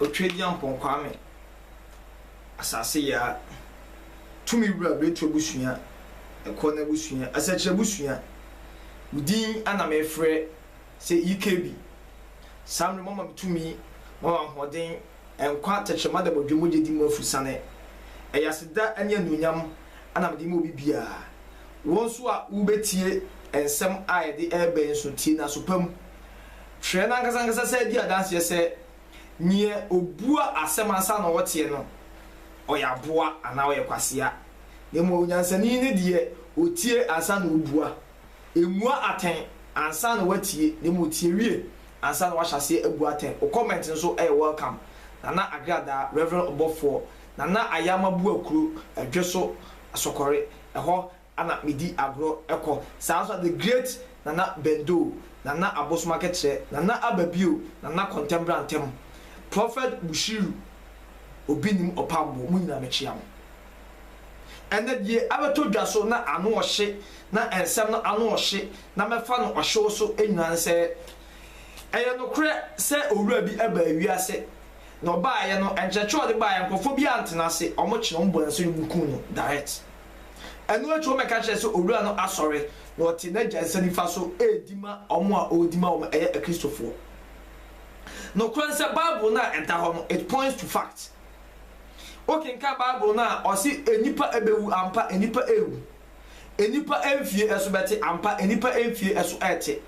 Otwagyirɛmpɔn Kwame Asaseyaa tumi wura Beretu abusua, Ɛkɔ no abusua, Asɛkyerɛ abusua. Wo din na merefrɛ sɛ EKB. Saa mmerɛ yi moama me tumi, moama me ahoɔden, nkwa, tɛkyerɛma da bɔdwe mogya di mu afurusane. Ɛyɛ aseda ne anuonyam na mede rema obi biara. Wo nso a worebɛtie nsɛm a yɛde reba yi nso tie no aso pa mu. Hwɛ n'ankasankasa san di adanseɛ sɛ neɛ ɔbua asɛm ansa na ɔteɛ no ɔyɛ aboa anaa ɔyɛ kwasea, na mmom onyansani ne deɛ ɔtie ansa na ɔbua. Mmua atɛn ansa na woatie, na mmom tie wie ansa na woahyɛ aseɛ abu atɛn. Wo comment nso yɛ welcome. Nana Agradaa, Rev. Ɔbɔfoɔ, Nana Ayama Buakuro, Adweso, Asɔkɔre, ɛhɔ Ana medi agorɔ kɔ saa nso a the great Nana Bendoo, Nana Abosom Akekyerɛ, Nana Aba Bio, Nana Kɔntɛmbra Ntɛm, Prophet Bushiru Obi Nim Ɔpambo mo nyinaa mekyea mo. Ɛnɛ deɛ abɛtɔ dwa so na ano ɔhye na nsɛm no ano ɔhye na mɛfa no ɔhyew so nyinaa ne sɛ ɛyɛ nokorɛ sɛ owura bi baa wiase na ɔbaeɛ no nkyerɛkyerɛ a ɔde baeɛ nkorɔfoɔ biara antena ase wɔkye no wɔbɔɔ ne so ne wɔkum no direct. Ɛno akyi wɔbɛka kyerɛ sɛ owura no asɔre na ɔte n'agya nsa nifa so redi ma wɔn a ɔredi ma wɔn ɛyɛ Akristofoɔ. Nokorɛ nsɛ Bible no a ɛda hɔ no it points to fact. Wokenkan Bible no a ɔse nnipa ɛbɛwu ampa nnipa ɛrewu. Nnipa mfie ɛso bɛte ampa nnipa mfie ɛso ɛrete.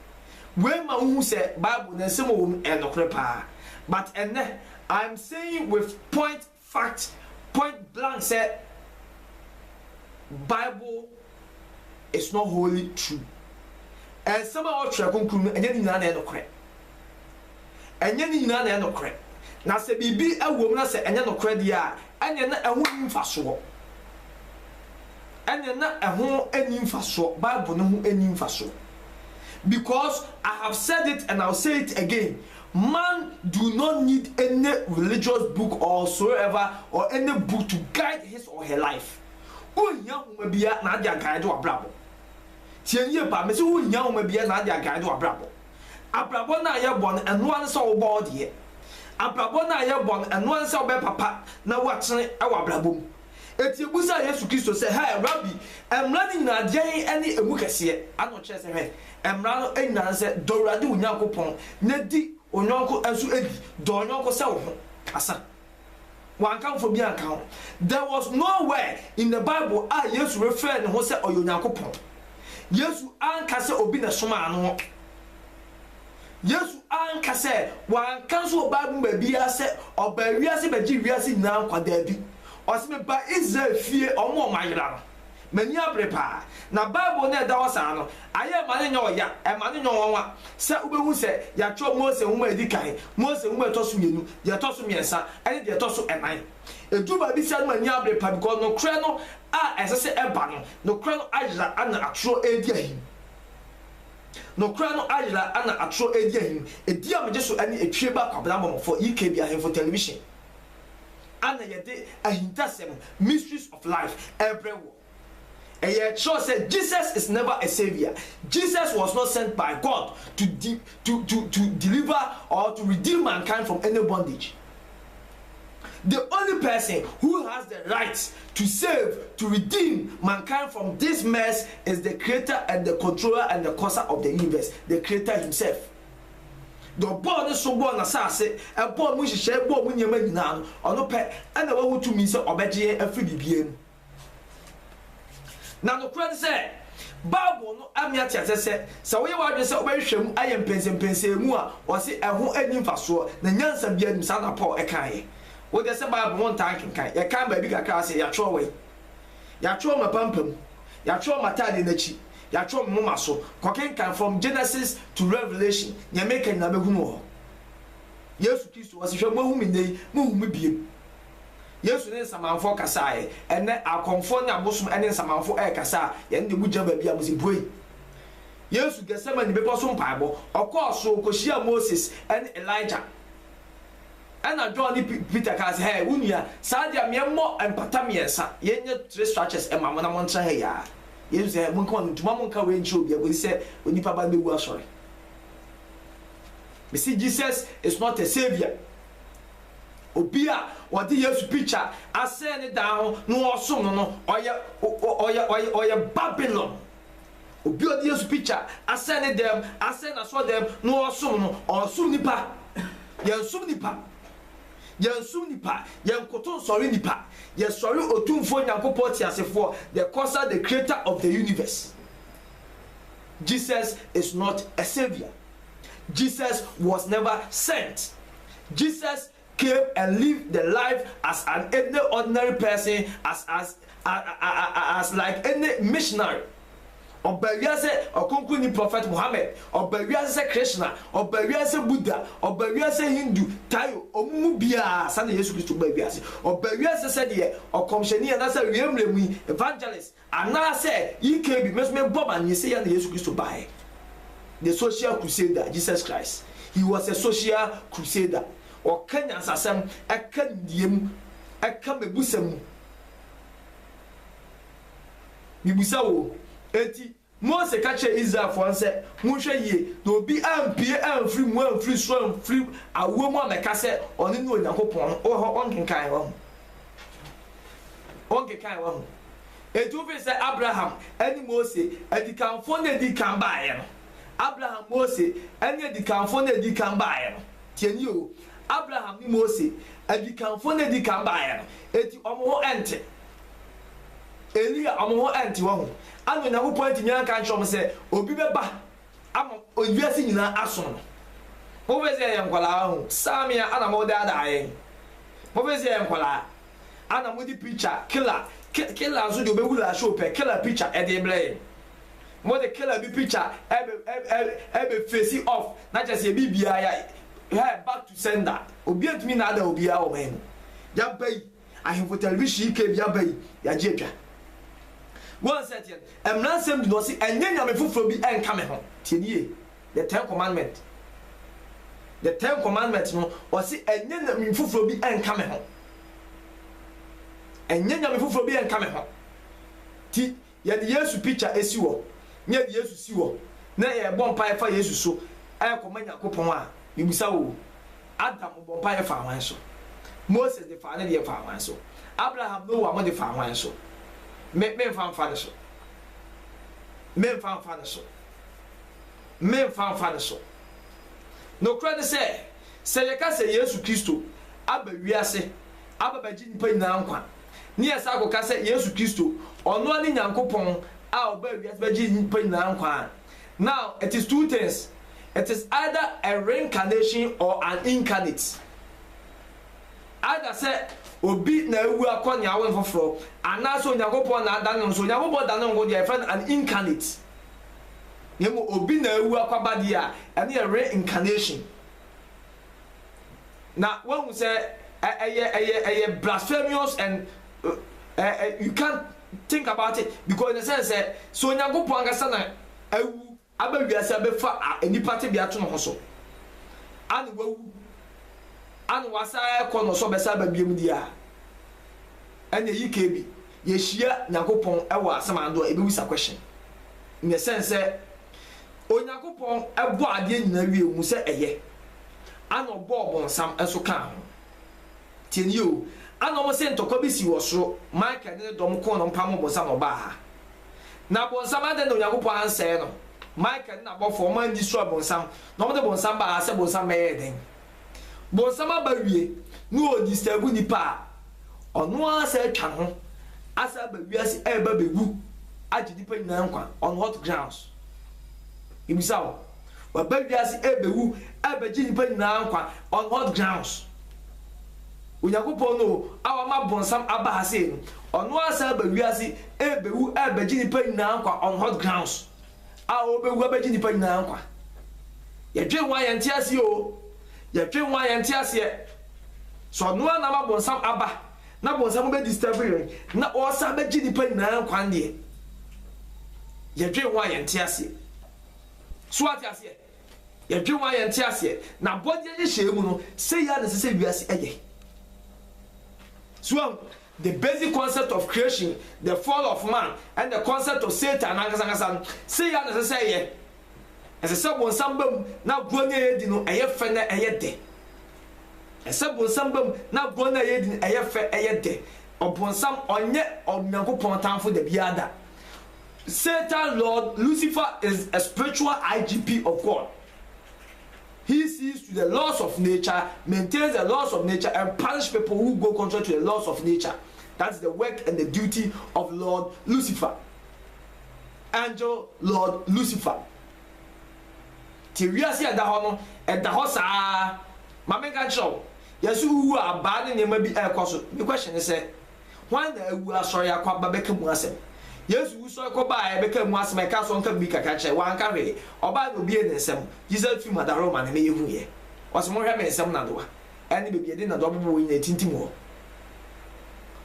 Wei ma wohu sɛ Bible no nsɛm a ɛwɔ mu ɛyɛ nokorɛ paa. But ɛnnɛ I am saying with point fact point blank sɛ bible is not wholly true. Nsɛm a ɛwɔ Twerɛ Kronkron mu no, ɛnyɛ ne nyinaa na ɛyɛ nokorɛ. Ɛnyɛ ne nyinaa na ɛyɛ nokorɛ. Na sɛ biribi wɔ mu na sɛ ɛnyɛ nokorɛ deɛ a, ɛnneɛ na ɛho nni mfasoɔ. Ɛnneɛ na ɛho nni mfasoɔ, Bible no ho nni mfasoɔ. Because I have said it and I will say it again, Man do not need any religious book or whatsoever or any book to guide his or her life. Wonnhia nwoma biara na ade aguide w'abrabɔ. Tie yie paa, mese wonnhia nwoma biara na ade aguide w'abrabɔ. Abrabɔ no a yɛbɔ no, ɛno ara ne sɛ wobɔ wo deɛ. Abrabɔ no a yɛbɔ no, ɛno ara ne sɛ wobɛyɛ papa na woatene wɔ abrabɔ mu. Enti yebisaa Yesu Kristo sɛ, Hɛ, Rabi, Mmara no nyinaa, deɛn ne emu kɛseɛ? Ɛna ɔkyerɛɛ sɛ, Hwɛ, Mmara no nyinaa ne sɛ, Dɔ Awurade wo Nyankopɔn, na di wo yɔnko nso ni. Dɔ wo yɔnko sɛ wo ho. Kasa. Wanka mfo biara anka ho. There was no where in the Bible a Yesu refrɛɛ ne ho sɛ ɔyɛ Onyankopɔn. Yesu anka sɛ obi na ɛsomaa no. Yesu anka sɛ, wanka nso wɔ Bible mu baabiara sɛ ɔbaa wiase bɛgye wiase nyinaa nkwa. Daabi. Ɔse, mebaa Israel fie, wɔn a wɔayera no. M'ani abere paa. Na Bible no a ɛda hɔ saa no, ayɛ ɛma no nyɛ ɔya, ɛma no nyɛ nwanwa sɛ wobɛhu sɛ yɛatwerɛ Mose nwoma a ɛdi kan, Mose nwoma a ɛtɔ so mmienu, deɛ ɛtɔ so mmiɛnsa, ne deɛ ɛtɔ so nnan. Ɛduru baabi saa no m'ani abere paa because nokorɛ no a ɛsɛ sɛ ɛba no, nokorɛ no ayera na atorɔ redi ahim. Nokora no ayera ana atoro redi ahim Edi a megye so ɛne etwie ba Kwabena Mɔmɔfɔ EKB Ahemfo Television ana yɛde ahintasɛm Mysteries of Life rebrɛ woɔ Ɛyɛ kyerɛw sɛ Jesus is never a saviour Jesus was not sent by God to to to deliver or to redeem mankind from any bondage the only person who has the right to save, to redeem, mankind from this mess is the creator and the controller and the causer of the universe, the creator himself. Deɛ ɔbɔɔ ne so bɔɔ n'asase, ɛbɔɔ mu nhyehyɛe, bɔɔ mu nneɛma nyinaa no, ɔno pɛ ɛna wahu tumi sɛ ɔbɛgye yɛn afiri biribiara mu. Na nokorɛ ne sɛ, Bible no ame ate aseɛ sɛ, sɛ woyɛ w'adwene sɛ wobɛhwehwɛ mu ayɛ mpɛnsɛmpɛnsɛɛ mu a, wɔse ɛho nni mfasoɔ, na nyansa biara nnim, saa na Paul kaeɛ. Wo deɛ sɛ Bible ho ntaa nkenkan, yɛkan baabi kakra ara sɛ, Yɛatwerɛ wɔ he? Yɛatwerɛ m'apampam, yɛatwerɛ m'ataadeɛ no akyi, yɛatwerɛ me moma so. Kɔkenkan from Genesis to Revelation, deɛ meka nyinaa bɛhunu wɔ hɔ. Yesu Kristo, ɔse, Hwɛ moahu me nnɛ yi, mohu me bio. Yesu ne nsamanfoɔ kasaeɛ. Ɛnnɛ akɔmfoɔ ne abosom ne nsamanfoɔ rekasa a, yɛn deɛ mogyina baabi a mo se buei. Yesu Gethsemane bepɔ so mpaebɔ, ɔkɔɔ soro kɔhyiaa Moses ne Elijah. Ɛna John ne Peter kaa sɛ, Hɛɛ, wo nua, saa adeɛ a, meɛmmɔ mpata mmiɛnsa, yɛnyɛ three structures mma mo na montra ha yi ara. Yesu sɛ, Hɛɛ, monka wɔn ntom, mma monka wei nkyerɛ obiara kɔsi sɛ Onipa Ba no bɛwu asɔre. Mese Jesus is not a saviour. Obi a wɔde Yesu pikya asɛn ne dan ho na wɔsom no no, ɔyɛ ɔyɛ ɔyɛ ɔyɛ Babilon. Obi a ɔde Yesu pikya asɛn ne dan mu, asɛn n'asɔrdan mu na ɔresom no, ɔresom nnipa. Yɛnsom nnipa. Yɛnsom nnipa. Yɛnkoto nsɔre nnipa. Yɛsɔre Otumfoɔ Nyankopɔn teasefoɔ, the Causer, the Creator of the universe. Jesus is not a saviour. Jesus was never sent. Jesus came and lived the life as an any ordinary person as as as like any missionary. Ɔba wiase sɛ ɔkronkronni prɔfɛt Mohammed, ɔba wiase sɛ Krishna, ɔba wiase sɛ Buddha, ɔba wiase sɛ Hindu, Tayo, wɔn mu biara saa na Yesu Kristo baa wiase. Ɔba wiase sɛdeɛ ɔkɔmhyɛni anaasɛ awiei mmerɛ mu yi, evangelist, Anaasɛ EKB, me nso me bɔ ma nye sɛ yɛ na Yesu Kristo baeɛ, the social crusader Jesus Christ, he was a social crusader, ɔka nyansasɛm, ɛka nimdeɛ mu, ɛka mmɛbusɛm mu. Mebisa wo, enti Mose ka kyerɛɛ Israelfoɔ no sɛ, Monhwɛ yie na obi ampue amfiri mu amfiri soro amfiri awoɔ mu ammɛka sɛ ɔno ne Onyankopɔn no. Wowɔ hɔ? Wonkenkanee? Woahu? Wonkenkanee? Woahu? Enti wofiri sɛ Abraham ne Mose, adikanfoɔ no a ɛdii kan baeɛ no, Abraham, Mose, ne adikanfoɔ no a ɛdii kan baeɛ no, tie nie o, Abraham ne Mose, adikanfoɔ no a ɛdii kan baeɛ no, enti wɔn ho nte. Elia, wɔn ho antew ahu. Ana Onyankopɔn antumi anka ankyerɛ wɔn sɛ obi bɛba ama wiase nyinaa asom no? Mopɛ sɛ yɛyɛ nkwadaa ahu? Saa me a, ana modaadaa yɛn? Mopɛ sɛ yɛyɛ nkwadaa? Ana mode picture killer, killer nso deɛ ɔbɛwura ahyɛ pɛ, killer picture ɛde rebrɛ yɛn? Mode killer bi picture ɛbɛ ɛbɛ ɛbɛ face off na kyerɛ sɛ yɛ biribiara yɛ hɛ back to sender. Obiara ntumi nnaadaa obiara wɔ ɔman mu. Yɛaba yi. Ahemfo Television yi kɛɛ bi aba yi yagye atwa Go and set yɛn mmara nsɛm di na ɔse ɛnyɛ nyame foforɔ bi nka me ho tie ne yie the ten commandment the ten commandment no ɔse ɛnyɛ nyame foforɔ bi nka me ho ɛnyɛ nyame foforɔ bi nka me ho ti Yɛde Yesu pikya si hɔ, na yɛde Yesu si hɔ, na yɛrebɔ mpaeɛ fa Yesu so rekɔma Nyankopɔn a, mebisa wo, Adam ɔbɔɔ mpaeɛ faa hwan so? Moses de faa ne deɛ faa hwan so? Abraham, Noa mo de faa hwan so? Me, memfa mfa ne so. Memfa mfa ne so. Memfa mfa ne so. Nokorɛ ne sɛ, sɛ yɛka sɛ Yesu Kristo aba wiase aba bɛgye nnipa nyinaa nkwa a, ne yɛ san kɔka sɛ Yesu Kristo, ɔno ara ne Nyankopɔn a ɔbaa wiase bɛgyee nnipa nyinaa nkwa a, now it is two things, it is either a reincarnation or an incarnate. Either sɛ obi na awu akɔ nea awo no foforɔ, anaasɛ Onyankopɔn na adane no, sɛ Onyankopɔn dane ne ho deɛ a yɛfrɛ no an incarnate, na mmom obi na awu akɔ aba deɛ a, ɛno yɛ reincarnation. na wahu sɛ ɛyɛ ɛyɛ ɛyɛ blasphemous and ɛ ɛ you can't think about it because in a sense sɛ sɛ onyankopɔn ankasa na awu aba wiase abɛfa nipa tebea ato ne ho so ana wawu ana wasa ɛkɔ no so bɛsa aba biam di a ɛna yi ka bi yɛhyia nyankopɔn ɛwɔ asɛm ando a ɛbɛwisa question in a sense sɛ Onyankopɔn bɔɔ adeɛ nyinaa wiee ɔhuu sɛ ɛyɛ, ana ɔbɔɔ ɔbonsam nso kaa ho. Tie no yie o, ana wɔn se ntɔkwa bi sii wɔ soro, Michael ne ne dɔm koo no mpamoo ɔbonsam na ɔbaa ha. Na ɔbonsam, adɛn na Onyankopɔn ansɛe no? Michael ne n'abɔfoɔ, wɔn anyi soro ɔbonsam, na wɔde ɔbonsam baa ha sɛ ɔbonsam bɛyɛɛ dɛn? bonsam aba wie na ɔdistɛɛbu nipa a, ɔno ara asan atwa ne ho asan aba wiase ɛreba abɛwu agye nipa nyinaa nkwa on what grounds? Mebisa wo, waba wiase ɛrebɛwu ɛrebɛgye nipa nyinaa nkwa on what grounds? Onyankopɔn no a wama bonsam aba ha sei no, ɔno ara asan aba wiase ɛrebɛwu ɛrebɛgye nipa nyinaa nkwa on what grounds? a ɔbɛwu abɛgye nnipa nyinaa nkwa. Yɛdwen ho a yɛnte aseɛ oo, yɛdwen ho a yɛnte aseɛ. So ɔno ara na ama bonsam aba na bonsam bɛ disturb yɛn na ɔresan abɛgye nnipa nyinaa nkwa deɛ? Yɛdwen ho a yɛnte aseɛ. So ate aseɛ? Yɛdwen ho a yɛnte aseɛ. Na bɔdeɛ nhyehyɛeɛ mu no, sɛ yɛ a na ɛsɛ sɛ wiase ɛyɛ. So ahu? The basic concept of creation, the fall of man, and the concept of Satan no ankasa ankasa no, sei ara na ɛsɛ sɛ ɛyɛ. Ɛsɛ sɛ bonsam ba mu na agorɔ no a yɛredi no ɛyɛ fɛ na ɛyɛ dɛ. Ɛsɛ sɛ bonsam ba mu na agorɔ no a yɛredi no ɛyɛ fɛ, ɛyɛ dɛ. Ɔbonsam, ɔnyɛ Onyankopɔn tamfo da biara da. Satan, Lord, Lucifer is a spiritual IGP of God. He sees to the laws of nature, maintains the laws of nature and punish people who go contrary to the laws of nature. That is the work and the duty of Lord Lucifer. Angel Lord Lucifer. Ti wiase ɛda hɔ no, ɛda hɔ saa. Ma menka nkyerɛ wo, yɛse wowu a abaa ne nneɛma bi ɛrekɔ so. Me question ne sɛ, Hwan na awu asɔre akɔ aba bɛka mu asɛm? Yesu wusɔre kɔ baa a yɛbɛka mu asɛm a ɛka sɛ ɔnka mu bi kakra kyerɛ? Wanka hwee. Ɔbaa na obiee ne nsam. Jesus firi Madaro ma ne meyɛ huiɛ. Ɔse monhwɛ me nsam nadoa ɛne baabi yɛde nadoa bobɔ wei nyina ɛtintim hɔ.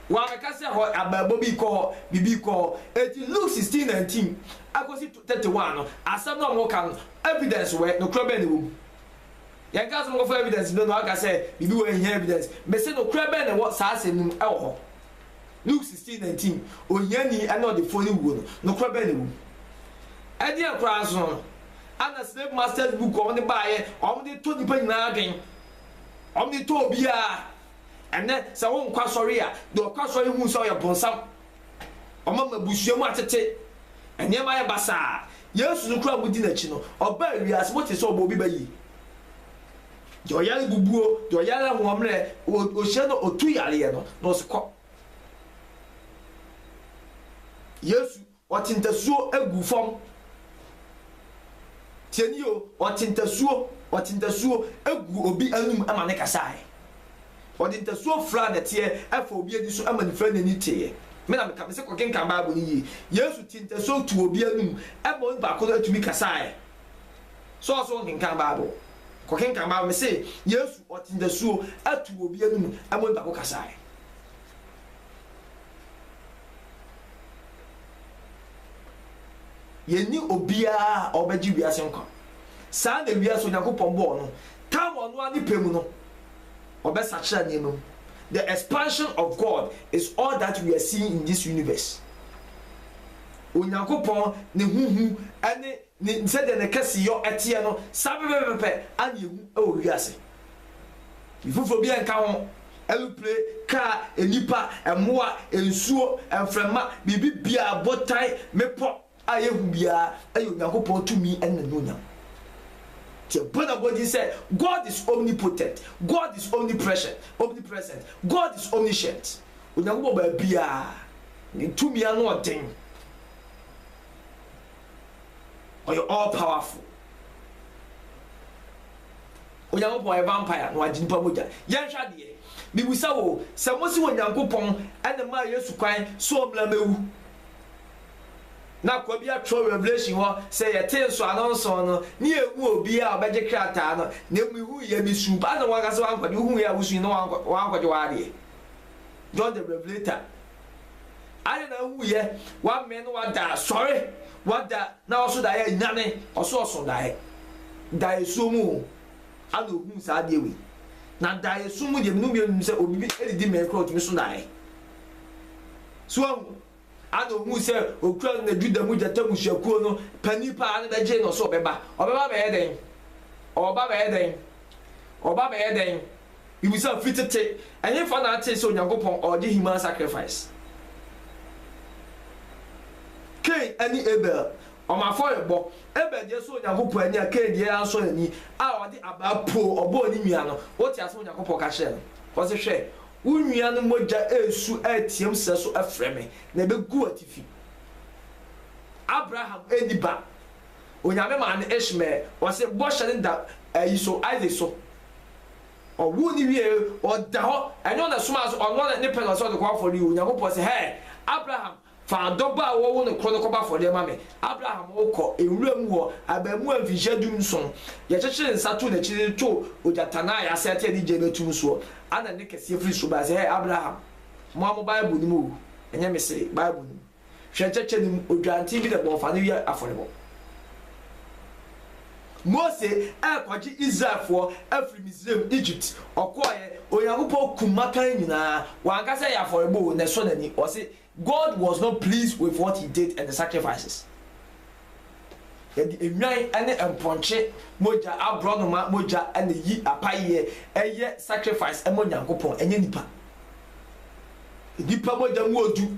Wamɛka sɛ hɔ abɛɛbɔ bi kɔ hɔ biribi kɔ hɔ. Enti Luke 16, 19 akɔsi 31 no asɛm no a wɔka no evidence wɛ, nokorɛ bɛn na ɛwɔ mu? Yɛn kaa sɛ ɔmɔkɔ fa evidence brɛ no a ɔka sɛ biribi wɔ hɔ a ehia evidence. Me se nokorɛ bɛn na ɛwɔ saa asɛm no mu ɛwɔ hɔ? Luke sixteen nineteen, Ohiani ne ɔdefoɔ no wuo no, nokorɛ bɛn na ɛwɔ mu? Ɛdeɛn koraa nso no, ana slave masters book a wɔde baeɛ a wɔde tɔ nnipa nyinaa adwen, wɔde tɔ obiara? Ɛnnɛ sɛ wonkɔ asɔre a, deɛ ɔkɔ asɔre hu sɛ ɔyɛ bonsam, Ɔma m'abusua mu atete. Nneɛma ayɛ basaa. Yesu no koro a mudi n'akyi no, ɔbaa wiase, motee sɛ ɔbɔ obi ba yi? Deɛ ɔyare bubu o, deɛ ɔyare ahoɔmmerɛ o, ɔhyia no a ɔtu yareɛ no, na ɔse kɔ. Yesu, ɔte ntasuo gu fam. Tiani o, ɔte ntasuo, ɔte ntasuo gu obi anum ma ne kasaeɛ. Ɔde ntasuo furaa dɛteɛ faa obi ani so ma no firaa n'ani teeɛ. Me na meka, mese kɔkenkan Bible no yie. Yesu tee ntasuo too obi anom ma onipa ko no tumi kasaeɛ. So ɔse wonkenkan Bible? Kɔkenkan Bible. Mese Yesu ɔte ntasuo too obi anom ma onipa ko kasaeɛ. Yɛnni obiara a ɔbɛgye wiase nkwa. Saa na wiase a Onyankopɔn bɔɔ no taa wɔ ɔno ara ne pɛ mu no, ɔbɛsakyera nneɛma mu. The expansion of God is all that we are seeing in this universe. Onyankopɔn ne ho hu ne ne sɛdeɛ ne kɛseyɔ teɛ no, saa pɛpɛpɛpɛ ara na yɛhu wɔ wiase. Biribi foforɔ biara nka ho, ɛroplee, kaa, nnipa, mmoa, nsuo, mframa, biribi biara, botan, mmepɔ, a yehu biara yɛ Onyankopɔn tumi ne n'anuonyam. Nti yɛbɔ no abɔden sɛ God is omnipotent, God is omnipresent, omnipresent, God is omniscient. Onyankopɔn baabiara, ne tumi ano yɛ den. Ɔyɛ all powerful. Onyankopɔn yɛ vampire na wagye nipa mogya. Yɛnhwɛ adeɛ. Mibisa wo, sɛ mose Onyankopɔn na maa Yesu kwan sɛ ɔmmra mmɛwu Na Kwabi atwerɛ wɔ Revelation hɔ sɛ yɛtee nsɔano nson no, ne yɛnhuu obiara a ɔbɛgye krataa no, na mmom yɛhuu yɛ, mesuu paa na wankasa wankɔgye, wohuu yɛ a wosui na wankɔgye w'adeɛ, John the Revelator, adɛn na wohuu yɛ, wamee na wada, sɔre, wada, na ɔso daeɛ, nyane, ɔso ɔso daeɛ, daeɛ suo mu o, ana ohuu saa adeɛ wei, na daeɛ suo mu deɛ, mene wo mmienu nim sɛ obi bi ɛdidi mee koraa ɔtumi so daeɛ. So wahu? Ana ohuu sɛ okura no na Juda mu gyata mmusuakuo no panin paa no bɛgyee no sɛ ɔbɛba? Ɔbɛba abɛyɛ dɛn? Ɔreba abɛyɛ dɛn? Ɔreba abɛyɛ dɛn? Mibisa, firi tete, ɛhefa na ate sɛ Onyankopɔn ɔregye human sacrifice? Kain ne Abel, wɔn afɔrebɔ. Abel deɛ sɔɔ Onyankopɔn ani a Kain deɛ ansɔ n'ani, a ɔde abaa poo ɔbɔɔ ne nua no. Wote aseɛ? Onyankopɔn ka kyerɛɛ no, ɔse, Hwɛ, Wo nua no mogya resu reteɛm sɛso frɛ me, na ɛbɛgu w'atifi. Abraham anni ba. Onyame maa no Ishmael. Ɔse bɔhyɛ no da ayi so, Isaac so. Ɔwoo no wieɛ, ɔda hɔ. Ɛnyɛ ɔna somaa so, ɔno ara ne pɛ na ɔse ɔde kɔ afɔreɛ o. Nyankopɔn se, Hɛɛ, Abraham, Fa dɔ ba a wɔwo no koro no kɔbɔ afɔdeɛ ma me. Abraham rekɔ nwura mu hɔ, abarimaa mfinhyia dunson, yɛkyekyere nsa too n'akyi de no too ogyata no a yɛasɛte a ɛde gya bɛtu no soɔ. Ana nne kɛseɛ firi soro baeɛ sɛ, Hɛɛ Abraham, mmoa mo Bible no mu o, ɛnyɛ me se, Bible no mu. Hwɛ nkyɛkyɛ no mu, odwanten bi na ɛbɔɔ fa no yɛ afɔrebɔ. Mose rekɔgye Israelfoɔ afiri Misraim, Egypt, ɔkɔeɛ, Onyankopɔn kum mmakan nyinaa, wanka sɛ ɛyɛ afɔrebɔ o, na ɛsɔ n'ani, ɔse God was not pleased with what he did and the sacrifices. Yɛde nnwan ne mpɔnkye mogya, aborɔnoma mogya na ɛyi apayeɛ, ɛyɛ sacrifice ma Onyankopɔn, ɛnyɛ nipa. Nipa mogya mu odu,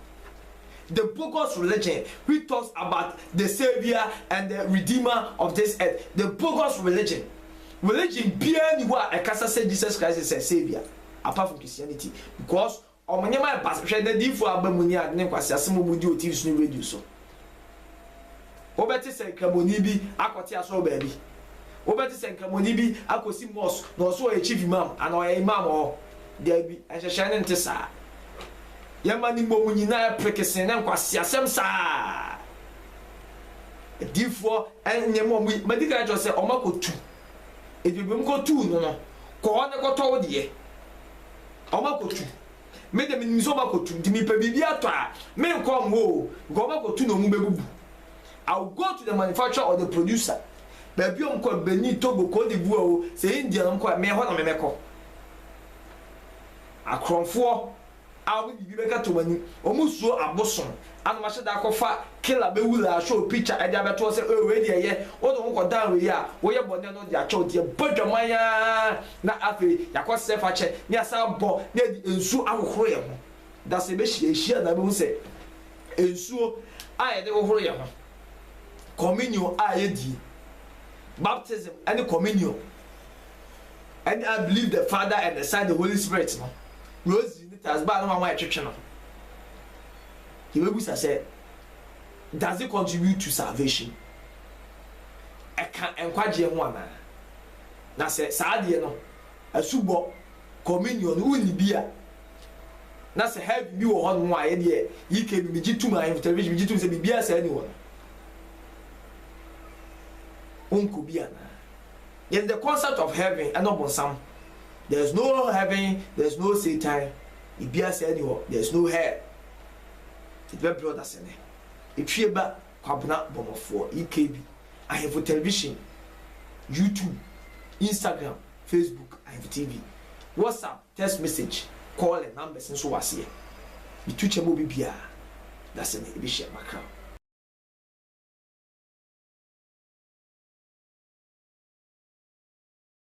The bogus religion which talks about the saviour and the redeemer of this earth, the bogus religion, religion biara ni hɔ a ɛkasa sɛ Jesus Christ sɛ saviour apart from Christianity because wɔn nneɛma yɛ basaa, hwɛ n'adiyifoɔ a aba mu ne ade ne nkwaseasɛm a wɔdi wɔ TV so ne radio so. Wobɛte sɛ Nkramoni bi akɔte asɔr baabi. Wobɛte sɛ Nkramoni bi akosi mosque na ɔse ɔyɛ Chief Imam anaa ɔyɛ Imam wɔ hɔ. Daabi, nhyehyɛɛ no nte saa. Yɛma ne mmom nyina yɛ prekesee ne nkwaseasɛm saa ara. Adiyifoɔ nyɛ ma wɔyi, madi kan akyerɛ wo sɛ wɔakɔtu. Enti baabi a wɔkɔtuu no no, kɔ hɔ ne kɔtɔ wo deɛ. Wɔakɔtu. Me de minim sɛ wɔbɛkɔtu nti mepɛ biribi atɔ a menkɔ mmoa o because wɔbɛkɔtu na wɔbɛbubu. I will go to the manufacturer or the producer baabi a wɔkɔ no, Benin, Togo, Cote d'Ivoire o, sɛ India na wɔkɔ a meyɛ hɔ na mebɛkɔ. Akorɔmfoɔ a wɔde biribi bɛkata wɔn anim, wɔsuro abosom Ana wahyɛ da akɔfa killer bɛ wura ahwɛ wo picture ɛde abɛto hɔ sɛ oh wei deɛ yɛ wo de ho kɔ dan wei a woyɛ bɔne no ɔde akyɛ wo nti yɛbɔ dwaman aa na afei yakɔ srɛ fakyɛ na yasan abɔ na yɛde nsuo ahohoro yɛn ho da sɛ yɛbɛhyia yɛhyia na bɛhu sɛ nsuo a yɛde hohoro yɛn ho communion a yɛdie baptism ɛne communion ɛne I believe the father and the son the holy spirit no rosary ne tasbaa no wanwa ɛtwetwe no Yebebisa sɛ, Does it contribute to salvation? Ɛka nkwagyeɛ ho anaa? Na sɛ saa deɛ no, asubɔ, communion, no wonni bi a, na sɛ heaven bi wɔ hɔnom a, yɛdeɛ UK no megye tum, ahemfo television megye tum sɛ biribiara saa ni hɔ no, wonkɔ bi anaa? Yɛn the concept of heaven ɛna ɔbonsam. There's no heaven, there's no Satan. Bibia saa ni hɔ there is no hell yɛde bɛbrɛ ɔdasɛnɛ ɛtwie ba kwabena bɔmɔfoɔ EKB ahemfo television YouTube Instagram Facebook ahemfo TV WhatsApp text message calling numbers nso wɔ aseɛ metu kyɛ ma obi biara dasɛnɛ ɛbɛhyia makra.